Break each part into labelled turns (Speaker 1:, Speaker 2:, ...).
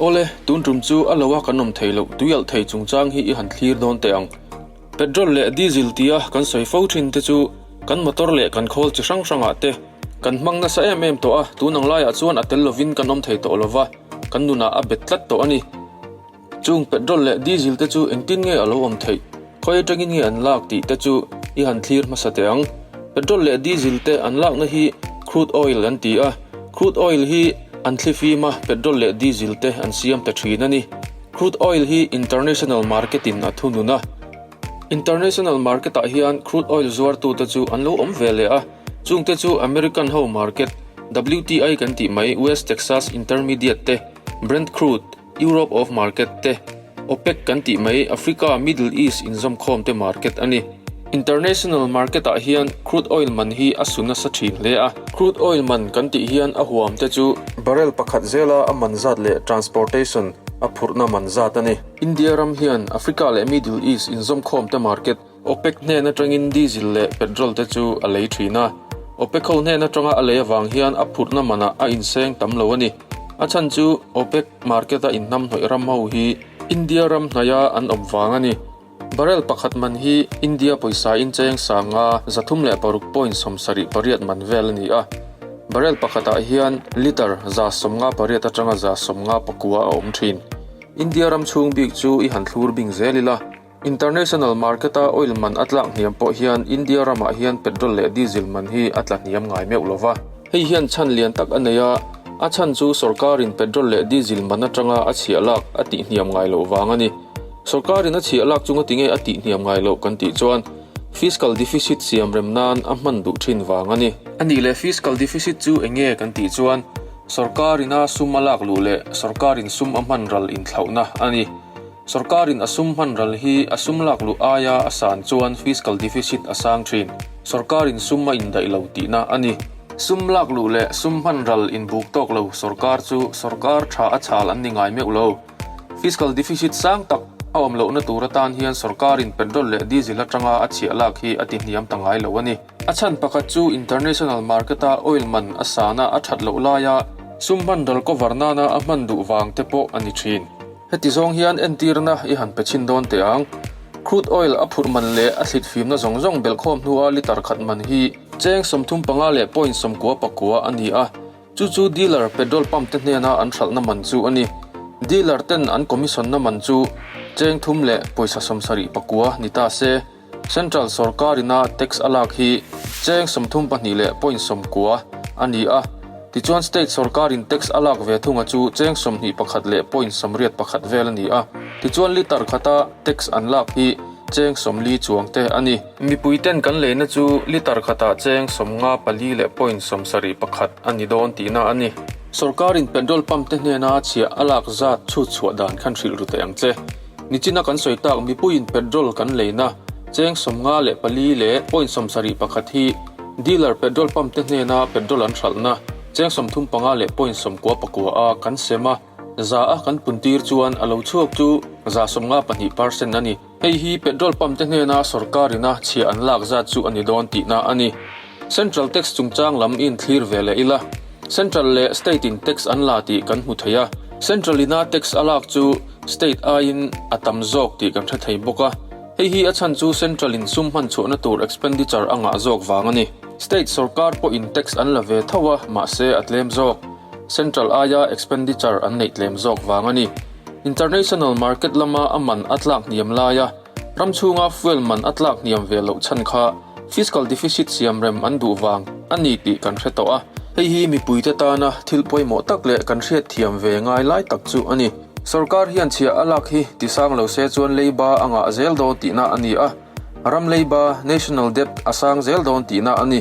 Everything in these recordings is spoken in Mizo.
Speaker 1: Awle, tun tum chu a lo a kan awm thei loh, tui alh thei chungchang hi i han thlir dawn teh ang. Petrol leh Diesel tia kan sawi fo thin te chu kan motor leh kan khawl chi hrang hrangah te kan hmang nasa em em tawh a, tun ang laiah chuan a tel lovin kan awm thei tawh lo va, kan nunah a bet tlat tawh a ni. Chung petrol leh diesel te chu engtin nge a lo awm theih, khawi atangin nge an lak tih te chu i han thlir hmasa teh ang. Petrol leh diesel te an lakna hi crude oil an ti a, crude oil hi an thli fim a petrol leh diesel te an siam ta thin a ni. Crude oil hi international market in a thu nun a, international market ah hian crude oil zuartu te chu an lo awm ve leh a, chung te chu American ho market, WTI kan tih mai, West Texas Intermediate te, Brent crude, Europe of market te, OPEC kan tih mai Africa, Middle East inzawmkhawm te market a ni. International market ah hian crude oil man hi a su nasa thin hle a. Crude oil man kan tih hian a huam te chu barrel pakhat zela a man zat leh transportation a phurhna man zat a ni. India ram hian Africa leh Middle East inzawmkhawm te market OPEC hnen atangin diesel leh petrol te chu a lei thin a. OPEC ho hnen atanga a lei avang hian a phurhna manah a inseng tam lo a ni. A chhan chu OPEC market a inhnam hnawih ram ho hi India ram hnaia an awp vang a ni. Barrel pakhat man hi India pawisa-in cheng sanga za thum leh paruk point sawmsa rih pariat man vel a ni a. Barrel pakhatah hian litre za sawmnga pariat atanga za sawmnga pakua a awm thin. India ram chhung bik chu i han thlur bing zel ila. International market a oil man a tlak hniam pawh hian India ramah hian petrol leh diesel man hi a tla hniam ngai meuh lo va. Hei hian chhan lian tak a nei a, a chhan chu sawrkarin petrol leh diesel man atanga a chhiah lak a tih hniam ngai loh vang a ni. Sawrkarin a chhiah lak chunga tinge a tih hniam ngai loh kan tih chuan fiscal deficit siam rem nan a hman duh thin vang a ni. A nih leh fiscal deficit chu eng nge kan tih chuan sawrkarina sum a lak luh leh sawrkarin sum a hman ral inthlauhna a ni. Sorkarin a sum hman ral hi a sum lak luh aia a san chuan fiscal deficit a sang thin. Sorkarin sum a indaih lo tihna a ni. Sum lak luh leh sum hman ral inbuk tawk lo sorkar chu sorkar tha a chhal an ni ngai meuh lo. Fiscal deficit sang tak a awm lohna tur atan hian sorkarin petrol leh diesel atanga a chhiah lak hi a tihniam ta ngai lo a ni. A chhan pakhat chu international market a oil man a sana a that loh laia sum hman ral cover nana a hman duh vang te pawh a ni thin. Heti zawng hian entirna i han pe chhin dawn teh ang. Crude oil a phurh man leh a thlit fimna zawng zawng belh khawm hnua litre khat man hi cheng sawmthum panga leh point sawmkua pakua a ni a, chu chu dealer petrol pump te hnena an hralhna man chu a ni. Dealer ten an commission-na man chu cheng thum leh pawisa sawmsarih pakua ni ta se. Central sorkarin a tax a lak hi cheng sawmthum pahnih leh point sawmkua a ni a, tichuan state sorkarin tax a lak ve thunga chu cheng sawmhnih pakhat leh point sawmriat pakhat vel a ni a, tichuan litre khata tax an lak hi cheng sawmli chuang te a ni. Mipuiten kan leina chu litre khata cheng sawmnga pali leh point sawmsarih pakhat a ni dawn tihna a ni. Sorkarin petrol pump te hnena chhiah a lak zat chhutchhuah dan khan hrilh ru thei ang che. Nichina kan sawi tak mipuiin petrol kan leina cheng sawmnga leh pali leh point sawm sarih pakhat hi dealer petrol pump te hnena petrol an hralhna cheng sawm thum panga leh point sawm kua pakua a kan sem a, za a kan puntir chuan a lo chhuak chu za sawmnga pahnih par sen a ni. Hei hi petrol pump te hnena sorkarin a chhia an lak zat chu a ni dawn tihna a ni. Central tax chungchang lam in thlir ve leh ila Central leh State in tax an la tih kan hmu thei a, Central ina tax a lak chu State aiin a tam zawk tih kan hre thei bawk a, hei hi a chhan chu Central in sum hman chhuahna tur expenditure a ngah zawk vang a ni. State sorkar pawh in tax an la ve tho a, mahse a tlem zawk Central aia expenditure an neih tlem zawk vang a ni. International market lama a man a tlak hniam lai a, Ram chhunga fuel man a tlak hniam ve loh chhan kha fiscal deficit siam rem an duh vang a ni tih kan hre tawh a. Hei hi mipuite tana thil pawimawh tak leh kan hriat thiam ve ngai lai tak chu a ni. Sorkar hian chhiah a lak hi ti sang lo se chuan leiba a ngah zel dawn tihna a ni a, ram leiba, national debt, a sang zel dawn tihna a ni.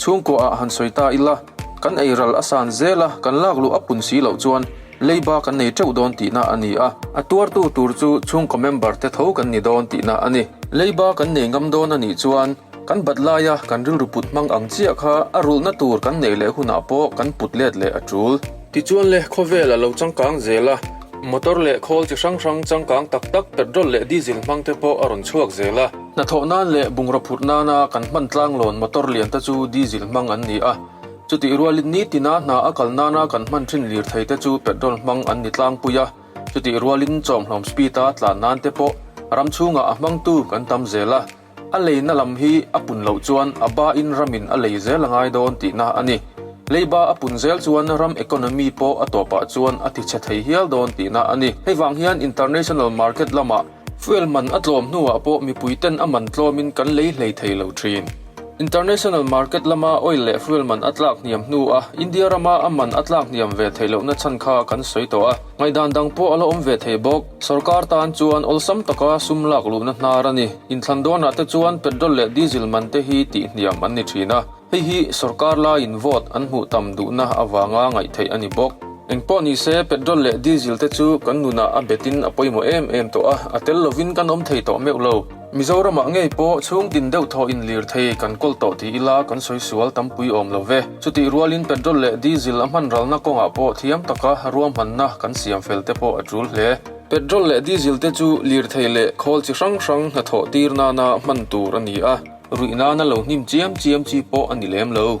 Speaker 1: Chhungkuah ah han sawi ta ila, kan ei ral a san zela kan lak luh a pun si loh chuan, Leiba kan nei teuh dawn tihna a ni a, a tuartu tur chu chhungkaw member te tho kan ni dawn tihna a ni. Leiba kan nei ngam dawn a nih chuan kan bat laia kan rilru put hmang ang chiah kha a rulhna tur kan neih leh hunah pawh kan put let leh a tul. Tichuan le khawvel a lo changkang zel a, motor leh khawl chi hrang hrang changkang tak tak petrol leh diesel hmang te pawh a rawn chhuak zel a. Hnathawh nan leh bungraw phut nana kan hmantlang lawn motor lian te chu diesel hmang an ni a, Chutih rualin nitina hna a kal nana kan hman thin lirthei te chu petrol hmang an ni tlangpui a, chutih rualin chawmhlawm speed a tlan nan te pawh ram chhungah a hmangtu kan tam zel a. A leina lam hi a pun loh chuan a ba in ramin a lei zel a ngai dawn tihna a ni. Leiba a pun zel chuan ram economy pawh a tawpah chuan a tichhe thei hial dawn tihna a ni. Hei vang hian international market lamah Fuel man a tlawm hnuah pawh mipuiten a man tlawmin kan lei hlei thei lo thin. International market lama oil leh fuel man a tlak hniam hnua India rama a man a tlak hniam ve thei lohna chhan kha kan sawi tawh a, ngaihdan dang pawh a la awm ve thei bawk. Sawrkar tan chuan awlsam taka sum lak luhna hnar a ni. Inthlan dawnah te chuan petrol leh diesel man te hi tih hniam an ni thin a. Hei hi sorkar laiin vote an hmuh tam duhna avanga ngaihtheih a ni bawk. Eng pawh ni se petrol leh diesel te chu kan nunah a betin a pawimawh em em tawh a, a tel lovin kan awm thei tawh meuh lo. Mizoramah ngei pawh chhungtin deuh thaw inlir thei kan kawl tawh tih ila kan sawi sual tampui awm lo ve. Chutih rualin petrol leh diesel a hmanralna kawngah pawh thiam taka ruahmanna kan siam fel te pawh a tul hle. Petrol leh diesel te chu lirthei leh khawl chi hrang hrang hnathawh tir nana hman tur a ni a. Ruihna na lo hnim chiam chiam chi pawh a ni lem lo.